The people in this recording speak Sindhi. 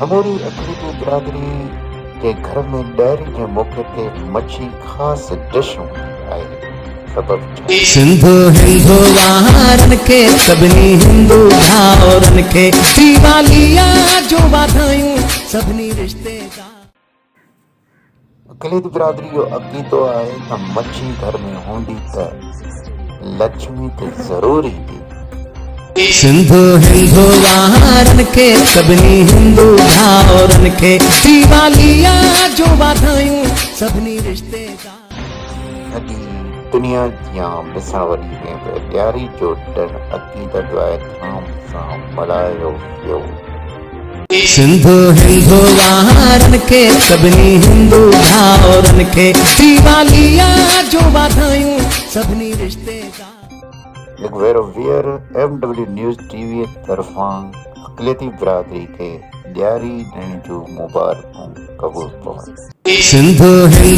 سموري افريقي برادري جي گهر ۾ ڏهري جي موقعي تي مڇي خاص ڊش هوندي آهي، سبب ڇا آهي؟ سنڌو هندو وارن کي سڀني هندو ڀائرن کي ديواليء جون واڌايون سڀني رشتيدارن کي. گليت برادري جو عقيدو آهي ته مڇي گهر ۾ هوندي ته لڇمي ته ضرور ايندي. سنڌو هندو وارن کي سڀني هندو ڀائرن کي ديواليء جون واڌايون سڀني رشتيدارن کي. ھڏي دنيا جيان بساوڏي ۾ به ڏياري جو ڏڻ عقيدت وائي ڌام سان ملھايو ويو. سنڌو ھندو وارن کي سڀني ھندو ڀائرن کي ديواليء جون واڌايون سڀني رشتيدارن کي. لڪ ويرو ويئر M W news T V طرفان اقليتي برادري کي ڏياري ڏڻ جون مبارڪون قبول پون. سنڌو ھندو